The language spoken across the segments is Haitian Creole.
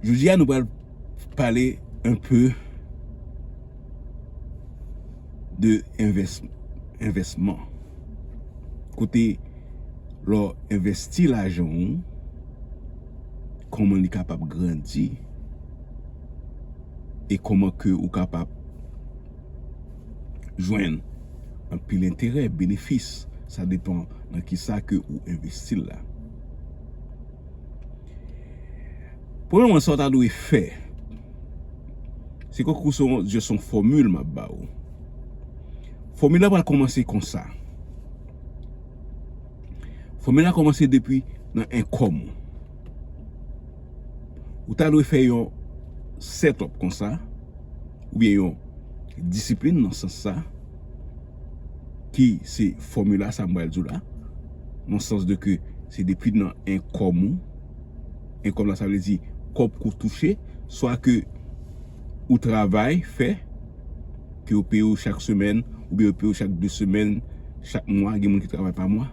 Jodi a nou pral pale un peu de envèsman. Kote lò envèsti lajan ou, kòman li kapab grandi e kòman ke ou kapab jwenn anpil enterè, benefis, sa depan nan ki sa ke ou envèsti la. Premyèman sa w ta dwe fè, se kwè kou son jè son fòmil m ap ba ou. Fòmil la pral kòmanse konsa. Fòmil la kòmanse depi nan enkòm ou. Ou ta dwe fè yon set up konsa, oubyen yon disiplin nan sans sa. Ki se fòmila sa m pral di w la. Nan sans de ke se depi nan enkom ou. Enkom la sa vle di kòb ke w touche. Swa ke ou travay fè. Ke yo peye w chak semèn. Oubyen yo peye w chak 2 semèn. Chak mwa. Gen moun ki travay pa mwa.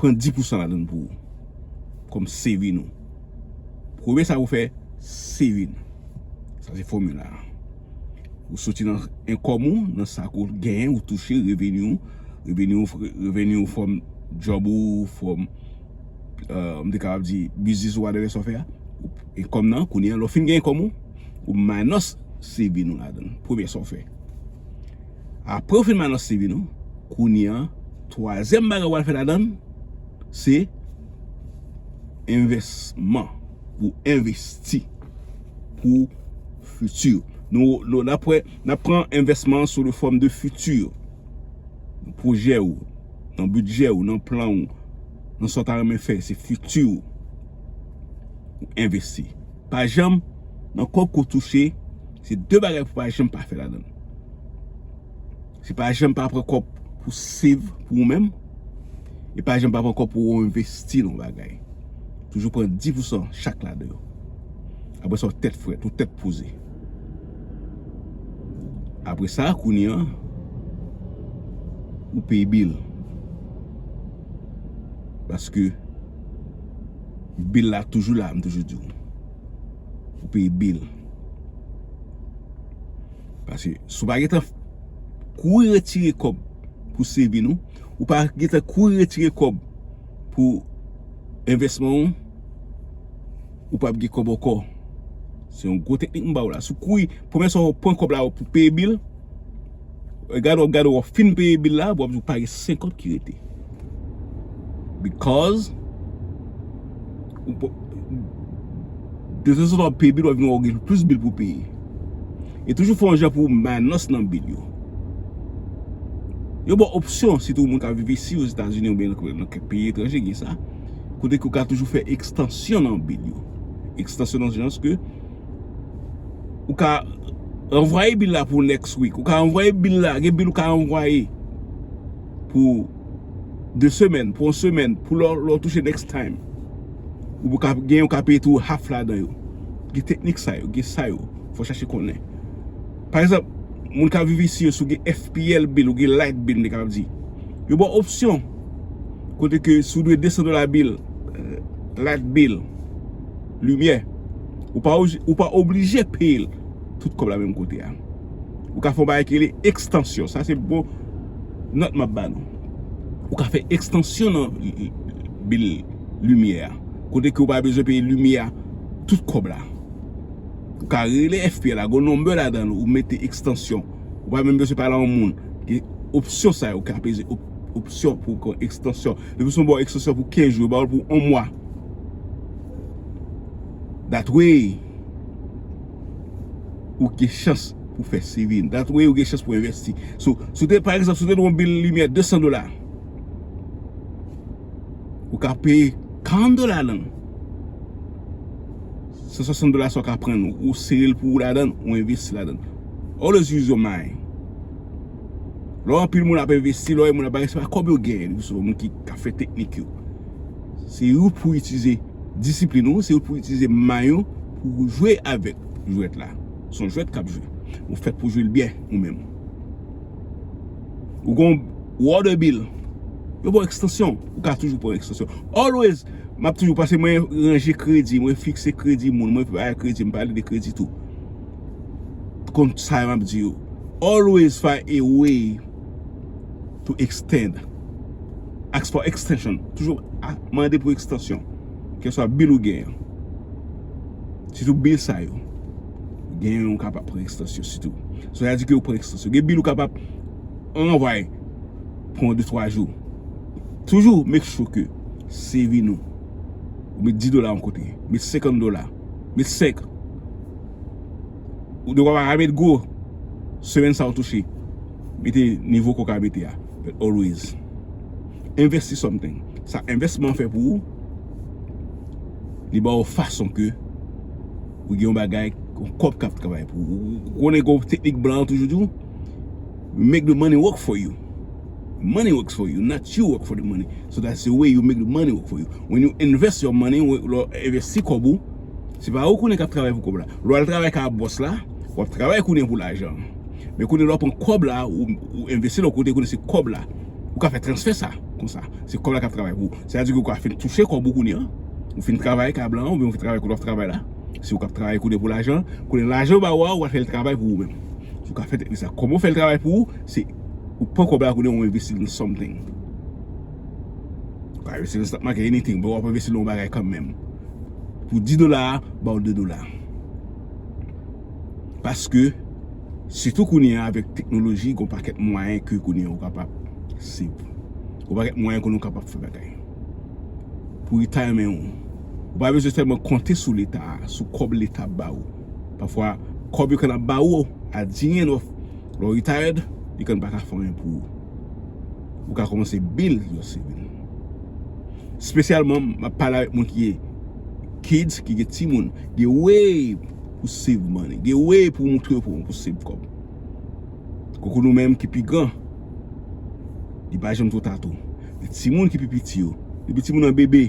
Pran 10 pousan ladann pou ou kòm saving ou. Premye sa ou fè saving. Sa se fòmila a. Ou soti nan enkòm ou, nan sa ke ou genyen, ou touche, reveni ou. Reveni ou, reveni ou from job ou, from, m te kapab di, biznis ou whatever sa ou fè a. Enkòm nan, kounye a lè ou fin gen enkòm ou, ou minus saving ou ladann. Premye sa ou fè. Aprè ou fin balance CV nou, kounye an, twazyèm bagay ou pral fè ladan l, se envèsman. Pou w envesti pou fiti ou. Nou n ap wè, n ap pran envèsman an sou le fòm de fiti ou. Nan pwojè ou, nan bidjè ou, nan plan ou, nan sa w ta renmen fè, se fiti ou. Ou envesti. Pa janm nan kob ko touche se de bagay pou pa janm pa fè ladann. Se pa janm pa pran kob pou save pou ou menm e pa janm pa pran kob pou ou envesti nan bagay. Toujou pran 10 pou san chak ladan yo. Apre sa ou tèt frèt, ou tèt poze. Apre sa kounye an ou peye bil. Paske Bill la toujou la m toujou diw. Ou peye bill. Pase sou pa gentan kouri retire kob pou saving ou. Ou pa gentan kouri retire kob pou envesman ou. Ou pap gen kob anko. Se yon gwo teknik m baw la. Sou kouri. Pwemye sa ou pran kob la ou pou peye bill. Gade wap gade wap fin peye bil la wap di w pa gen 50 ki rete because detanzantan wap peye bil wap vin wè w gen plis bil pou w peye e toujou fè yon jan pou w maynans nan bil yo yo ba w opsyon sitou moun kap viv isi ozetazini oubyen nan kèk peyi etranje gen sa kote ke w ka toujou fè ekstansyon nan bil yo ekstansyon nan sans ke Ou ka anvwaye bil la pou next week. Ou ka anvwaye bil la. Gen bil ou ka anvwaye pou 2 semèn, pou 1 semèn, pou lè ou touche next time. Ou pou ka gen ou ka peye tou half la dan yo. Gen teknik sa yo, gen sa yo. Fò chache konnen. Pa ekzanp, moun ka vivi si yo sou gen FPL bil ou gen light bil de ka ap di. Yo ba w opsyon. Kote ke sou dwe 200 dola bil, light bil, limyè. Ou pa oblije peye tout kòb la menm kote a. Ou ka fè yon bagay ki rele ekstansyon. Sa se bon nòt m ap ba nou. Ou ka fè ekstansyon nan bil limyè a. Kote ke ou pa bezwen peye limyè a tout kòb la. Ou ka rele FPL la. Gon nonbe ladan ou mete ekstansyon. Ou pa menm bezwen pale a yon moun. Gen opsyon sa yo. Ou ka peze opsyon pou ekstansyon. Depi se yon bon ekstansyon pou 15 jou. Yo ba ou l pou 1 mwa. That way ou gen chans pou fè saving. That way ou gen chans pou investi. So, sou te, pa egzanp, sou te yon bil limyè 200 dola, ou ka peye 40 dola lan. 160 dola sa ou ka pran, ou sere l pou ou ladan, ou investi ladan. Always use your mind. Lò anpil moun ap envesti, lò yon moun ap bay, se pa kòb yo genyen li sou moun ki ka fè teknik yo. Se ou pou itilize disiplin ou, se ou pou itilize may ou pou ou jwe avèk jwèt la. Se yon jwèt k ap jwe. Ou fèt pou jwe l byen ou menm. Ou gon water bill, yo ba w ekstansyon, ou ka toujou pran ekstansyon. Always, m ap toujou pase mwen ranje kredi, mwen fikse kredi moun, mwen pale de kredi tou. konn sa map di yo always find a way to extend ask for extension toujou mande pou ekstansyon keswa bil ou gen sitou bil sa yo gen yon kapab pran ekstansyon sitou sa vle di ke ou pran ekstansyon gen bil ou kapab anvay pou 1 2 3 jou toujou make sure ke CV nou ou met 10 dola yon kote met 50 dola Met 5. Ou dwe pa met gwo. Semèn sa ou touche. Mete nivo ke w ka mete a. But always. Invest in something. Sa envèsman an fè pou ou, li ba ou fason ke ou gen yon bagay, yon kòb k ap travay pou ou. Ou konnen gen yon teknik blan an toujou di ou? make the money work for you money works for you not you work for the money so that's the way you make the money work for you when you invest your money lè w envesti kòb ou se pa ou kounye kap travay pou kòb la lè w al travay kay bòs la wap travay kounye pou lajan an men kounye lè w pran kòb la ou envesti l yon kote kounye se kòb la ou ka fè transfè sa konsa se kòb la kap travay pou ou sa vle di ou ka fin touche kòb ou kounye an ou fin travay kay blan an oubyen ou fin travay kote wap travay la Si ou kap travay kounye pou lajan, kounye lajan yo ba ou a, ou al fè l travay pou ou menm. Ou ka fè teknik sa. Kòman ou fè l travay pou ou, se ou pran kòb la kounye ou envesti l nan something. Ou ka envesti l nan stock market, anything, bon ou ap envesti l nan yon bagay kanmenm. Pou 10 dola a, ba ou 2 dola. Paske, sitou kounye a avèk teknoloji, gon pakèt mwayen ke kounye ou kapab save. Gon pakèt mwayen kounye ou kapab fè bagay. pou leta renmen ou. Ou pa bezwen sèlman konte sou leta, sou kòb leta ap ba ou. Pafwa, kòb yo konn ap ba ou a di enyen lò. Lè ou retired, li konn pa ka fè anyen pou ou. Ou ka kòmanse build your saving. Spesyalman, m ap pale avèk moun ki gen kids, ki gen timoun. Gen way pou save money. Gen way pou montre yo kòman pou save kòb. Koko nou menm ki pi gran, li pa janm two ta tou. Men ti moun ki pi piti yo, depi ti moun nan bebe,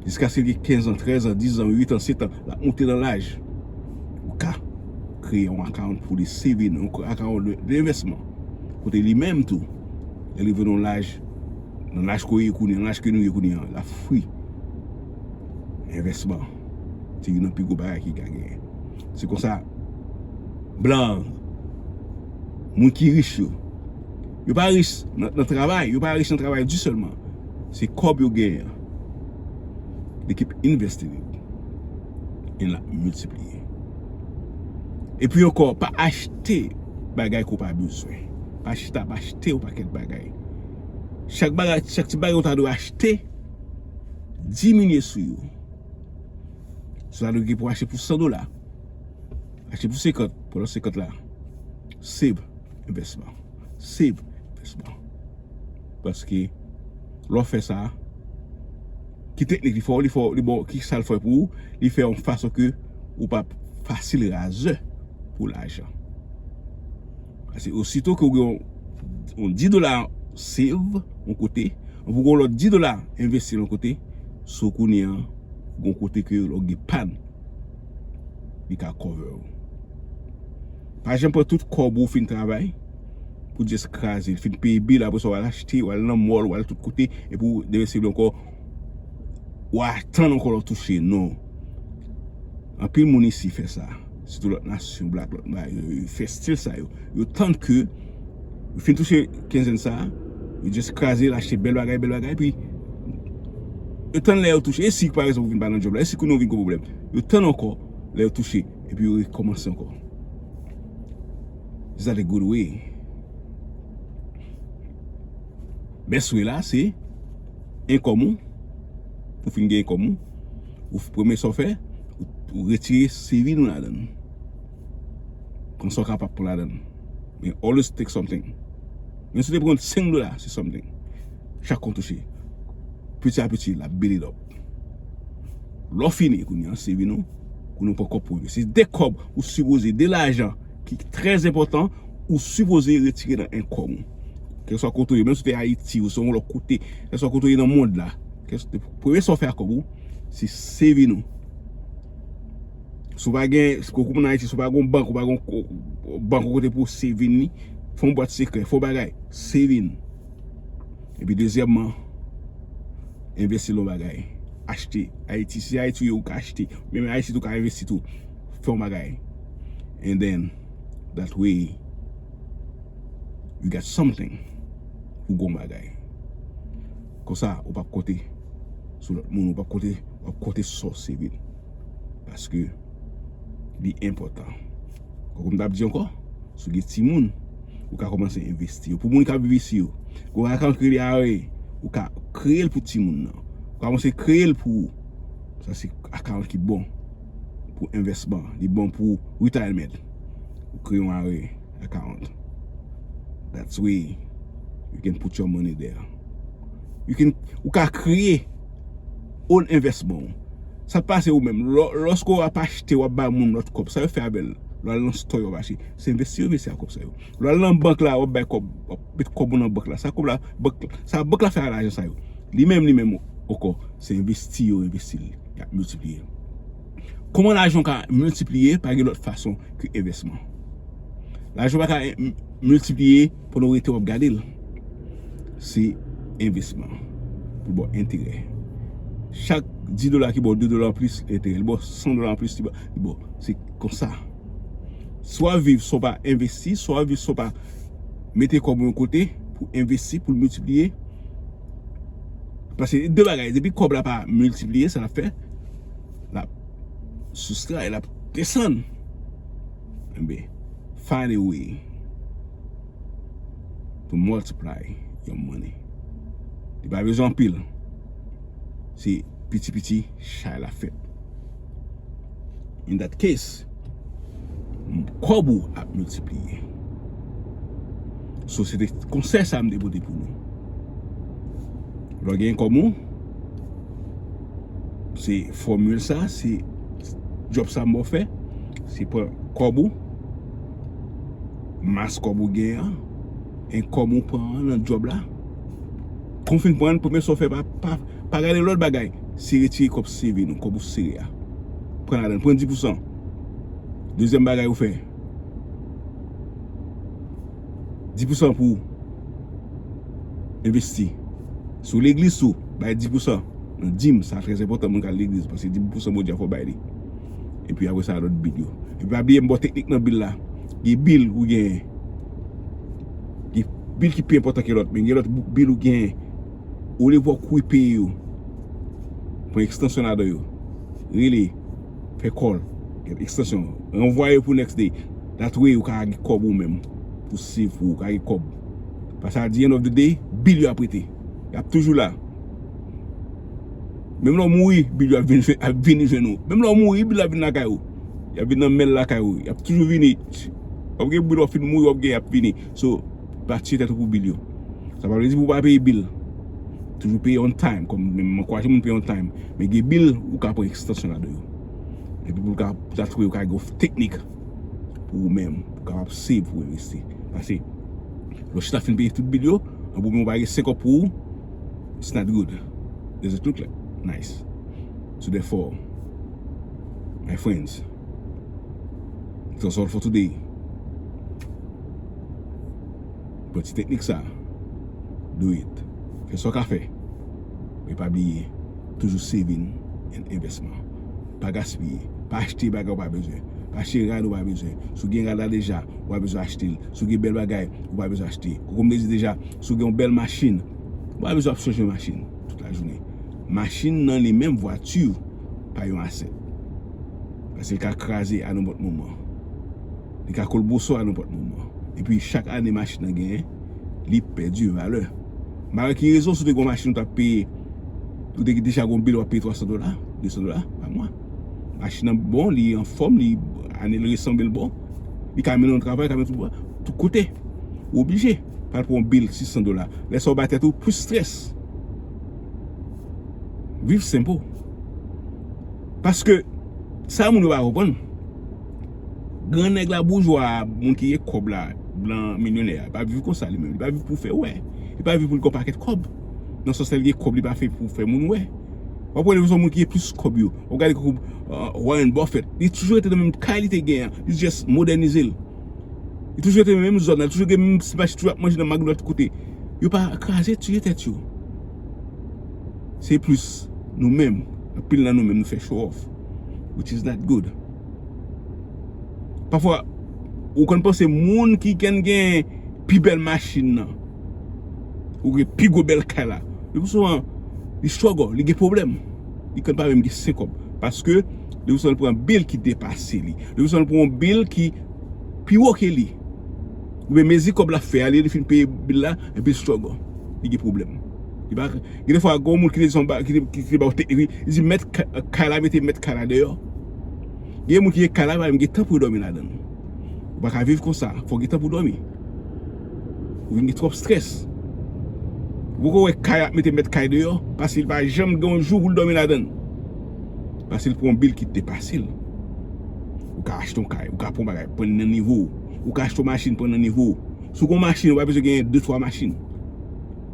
jiskaske li gen 15 an, 13 an, 10 an, 8 an, 7 an, l ap moute nan laj, ou ka kreye yon akawont pou li seve nan yon akawont de envèsman. Kote li menm tou, lè li rive nan yon laj, nan laj ke nou ye kounye an, l ap fri envèsman. Se youn nan pi gwo bagay ki ka genyen. Se konsa, blan, moun ki rich yo, yo pa rich nan travay, yo pa rich nan travay di sèlman. Se kòb yo genyen, li kip investi li, e la miltipliye. E pi ankò, pa achte bagay ki w pa bezwen. Pa chita ap achte yon pakèt bagay. Chak bagay, chak ti bagay ou ta dwe achte, diminye sou yo. Sa nou gen pou achte pou 100 dola. Achte pou 50, pou la 50 la. Save investment. Save investment. Paske, lò fè sa, ki teknik li fò, li fò, li bò, ki sa l fò pou ou, li fè yon fason ke ou pa fasil razè pou lajan. Paske osito ke ou gen yon 10 dola save yon kote, ou pou gen yon lòt 10 dola envesti yon kote, so kounye an, ou gen yon kote ke lè ou gen pàn, li ka cover ou. Pa janm pran tout kòb ou fin travay, pou just kraze l, fin peye bill, apre sa ou al achte, ou al nan mall, ou al tout kote, epi ou demen se vle ankò, ou atann ankò lè ou touche, non. Anpil moun isi fè sa. Sitou lòt nasyon black lòt bagay yo yo fè stil sa yo. Yo tann ke yo fin touche kenzen sa a, yo just kraze l achte bèl bagay bèl bagay epi yo tann lè yo touche. E si pa rezonn ou vin pa nan djòb la? E si kounye ou vin gwo pwoblèm? Yo tann ankò lè yo touche epi yo rekòmanse ankò. Is that a good way? Best way la se enkòm ou, ou fin gen enkòm ou. Ou premye sa w fè, ou retire CV nou ladan l. Konsa w kapab pran ladan l. Men always take something. Menm si w te pran 5 dola, se something. Chak kont touche. Piti a piti, l ap build it up. Lè w fini kounye a, CV nou, kounye a ou pran kòb pou yo. Se 2 kòb ou sipoze, 2 lajan ki trè enpòtan ou sipoze retire nan enkom ou. Kèlkeswa kote ou ye, menm si w te Ayiti, ou se yon lòt kote, kèlkeswa kote ou ye nan mond la. Premye sa ou fè ak kòb ou, se saving ou. Si ou pa gen, si ou moun Ayiti, si ou pa gen yon bank, ou pa gen yon bank ou kote pou ou saving li, fè yon bwat sekrè, fè yon bagay, saving. E pi dezyèmman, envesti nan yon bagay. Achte. Ayiti, si se Ayiti ou ye, ou ka achte. Menm Ayiti tou ou ka envesti tou. Fè yon bagay. And then, that way, you got something. Ou gen yon bagay. Konsa ou pap konte sou lòt moun ou pap konte wap konte sou sa w se vre paske li enpòtan tankou m tap di ankò si w gen timoun ou ka kòmanse envesti yo pou moun kap viv isi yo gwo bagay kan kreye a e ou ka kreye l pou timoun nan ou ka kòmanse kreye l pou ou sa se akan ki bon pou envèsman li bon pou ritayèlmèt ou kreye yon a e akan dat se wi you can put your money there. Ou ka kreye own investment ou. Sa k pase ou menm? Lòske w ap achte, w ap bay moun lòt kòb. Sa yo fè avè l? Lè w al nan store yo ap achte. Se envesti yo mesi ak kòb sa yo. Lè w al nan bank la, w ap bay kòb. W ap met kòb ou nan bank la. Sa kòb la, sa bank la fè a lajan sa yo. Li menm, li menm ankò. Se envesti yo envesti l. Y ap miltipliye. Kouman lajan w ka miltipliye pa gen lòt fason ke envèsman. Lajan w pa ka miltipliye. Pandan w rete w ap gade l, se envesman pou ba w enterè. Chak 10 dola ki ba w 2 dola anplis enterè, li ba w 100 dola anplis li ba w. Se konsa. Si w ap viv san w pa envesti, si w ap viv san w pa mete kòb ou yon kote pou w envesti, pou l miltipliye, paske de bagay, depi kòb la pa miltipliye, sa l ap fè, l ap soustray, l ap desann. Anben, find a way to multiply your money. Li pa bezwen anpil. Se piti piti chay la fèt. In that case, kòb ou ap miltipliye. So, se te konsèy sa m te pote pou nou. Lè w gen kòb ou, se fòmil sa, se. Job sa mwen fè, se pran kòb ou, mas kòb ou gen an, e kòm ou pran an nan job la, kou fin pran an, premye sa ou fè, pa gade lòt bagay, se retire kòb CV nou, kòb ou sere a. Pran ladan l, pran 10 pousan. Dezyèm bagay ou fè. 10 pousan pou investi sou leglis sou bay 10 pousan nan dim sa trèz enpotan moun kal leglis pase 10 pousan moun djafo bay li epi apre sa alot bil yo epi pa biye mbo teknik nan bil la di bil ou gen di bil ki pi enpotan ke lot men gen lot bil ou gen ou li pou kouy peyi yo pou ekstansyon la do yo rele Fè kòl, gen ekstansyon an. Ranvwaye pou next day. That way ou ka gen kòb ou menm pou save pou ou ka gen kòb. Paske at the end of the day, bill yo ap rete. Yo ap toujou la. Menm lè ou mouri, bill yo ap vini jwenn ou. Menm lè ou mouri, bill yo ap vini lakay ou. Yo ap vini nan mail lakay ou. Yo ap toujou vini. Wap gen bill wap fin mouri wap gen yo ap vini. So, pa tye tèt ou pou bil yo. Sa pa vle di pou pa peye bil. Toujou peye on time. Kòm mwen ankouraje moun peye on time. Men gen bil ou ka pran ekstansyon ladan yo. Epi pou ka sa tou yo ka gen yon teknik pou ou menm. Pou ka ap save pou envesti. Pase, lò chita fin peye tout bil yo, anpi ou menm ou pa gen 5 kòb pou ou, it's not good. Is it too clear? Nice. So therefore, my friends. That's all for today. Pran ti teknik sa. Do it. Fè sa w ka fè. Men pa bliye, toujou saving and investment. Pa gaspiye. Pa achte bagay ou pa bezwen. Pa achte rad ou pa bezwen. Si w gen rad la deja, ou pa bezwen achte l. Si w gen bèl bagay, ou pa bezwen achte. Koko m te di deja, si w gen yon bèl machin, ou pa bezwen ap chanje machin tout lajounen. Machin nan li menm, vwati, pa yon asset. Paske li ka kraze a nenpòt moman. Li ka kolboso a nenpòt moman. E pi chak ane machin nan genyen, li pèdi valè. M pa wè ki rezon si w te gen yon machin ou t ap peye, ou te deja gen yon bil w ap peye 300 dola, 200 dola pa mwa. Machin nan bon, li anfòm, li ane l resan men l bon. Li ka mennen w travay, li ka mennen w tout kote. Ou oblije pa pran yon bil 600 dola. Lè sa w bay tèt ou plis strès. Viv senp ou. Paske, sa moun yo pa konprann, gran nèg la, boujwa a, moun ki gen kòb la, blan milyonè a, li pa viv konsa li menm, li pa viv pou fè wè, li pa viv pou l gen yon pakèt kòb, nan sans lè l gen kòb li pa fè pou fè moun wè. W ap wè lè w sou moun ki gen plis kòb yo, w ap gade tankou Warren Buffett, li toujou rete nan menm kay li te gen an, li jis modènize l. Li toujou rete nan menm zòn nan, li toujou gen menm ti machin, li toujou ap manje nan McDonald tout kote. Yo pa kraze tiye tèt yo. Se plis nou menm, anpil nan nou menm nou fè show off which is not good. Pafwa ou konn panse moun ki konn gen pi bèl machin nan, ou gen pi gwo bèl kay la, le pi souvan li struggle, li gen pwoblèm. Li konn pa menm gen 5 kòb paske le pi souvan li pran bill ki depase li. Le pi souvan li pran yon bill ki pi wo ke li. Oubyen mezi kòb la fè a, li fin peye bill la, epi li struggle, li gen pwoblèm. Gen de fwa gen yon moun ki te di son ba, ki te ki te ba w teknik li, li di mèt kay la mete mèt kay la deyò. Gen yon moun ki gen kay la, li pa menm gen tan pou yo dòmi ladan l. Ou pa ka viv konsa, fò w gen tan pou w dòmi. Ou vin gen twòp strès. Ou poko wè kay ap mete mèt kay deyò, paske li pa janm gen yon jou pou l dòmi ladan l. Paske l pran yon bil ki depase l. Ou ka achte yon kay, ou ka pran yon bagay, pran li nan nivo w. Ou ka achte yon machin, pran li nan nivo w. Si w gen yon machin, ou pa bezwen genyen de twa machin.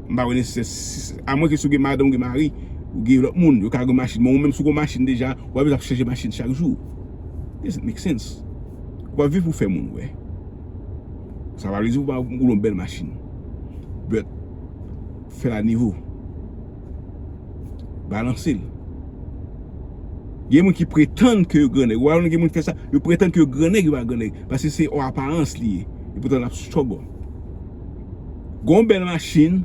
M pa wè nesesè si a mwen ke si w gen madan ou gen mari ou gen lòt moun yo ka gen machin men ou menm si w gen yon machin deja ou pa bezwen ap chanje machin chak jou does it make sense ou pa viv pou fè moun wè sa pa vle di ou pa gen yon bèl machin but fè l a nivo balanse l gen moun ki pretann ke yo grannèg ou pa wè gen moun ki fè sa yo pretann ke yo grannèg yo pa grannèg paske se yon aparans li ye epoutan l ap struggle. Gon bèl machin,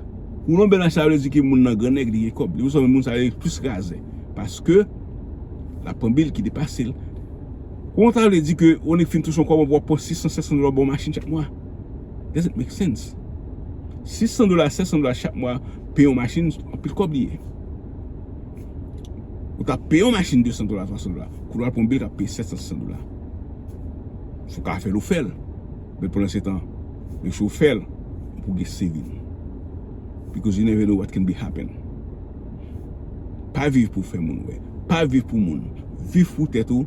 moun gon bèl machin sa vle di ke moun nan gran nèg li gen kòb. Li bezwen moun sa yo plis razè. Paske, lap pran bil ki depase l. Gon sa vle di ke yon nèg fin touche yon kòb anpil wap pran 600, 700 dola pou yon machin chak mwa. Does it make sense? 600 dola, 700 dola chak mwa peye yon machin, anpil kòb li ye. Ou ta peye yon machin 200 dola, 300 dola. Kou wap pran yon bil kap peye 700, 800 dola. Si w ka fè l, ou fè l. But pandan se tan yo si w fè l ou pou gen saving because you never know what can be happen pa viv pou fè moun wè pa viv pou moun viv pou tèt ou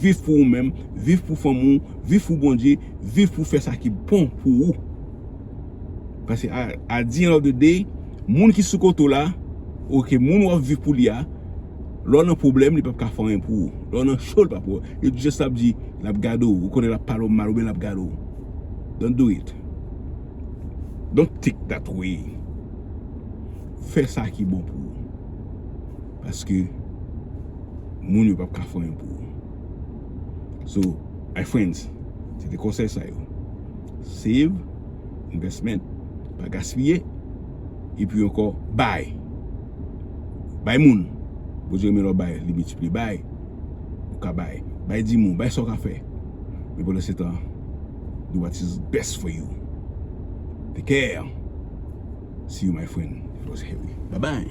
viv pou ou menm viv pou fanmi w viv pou Bondye viv pou fè sa ki bon pou ou paske at the end of the day moun ki sou kote w la ok moun wap viv pou li a. Lè w nan pwoblèm li pap ka fè anyen pou ou. Lè w nan cho li pap wè w. Li jis ap di l ap gade w. Ou konnen l ap pale w mal oubyen l ap gade w. Don't do it. Don't think that way. Fè sa ki bon pou ou. Paske moun yo pap ka fè anyen pou ou. So, my friends, se te konsèy sa yo. Save, investment, pa gaspiye. Epi ankò, bay. Bay moun. Bondye renmen lè w bay, li miltipliye. Bay. Ou ka bay. Bay di moun. Bay sa w ka fè. Men pandan se tan, do what is best for you. Take care. See you my friend. It was Harry. Bye bye.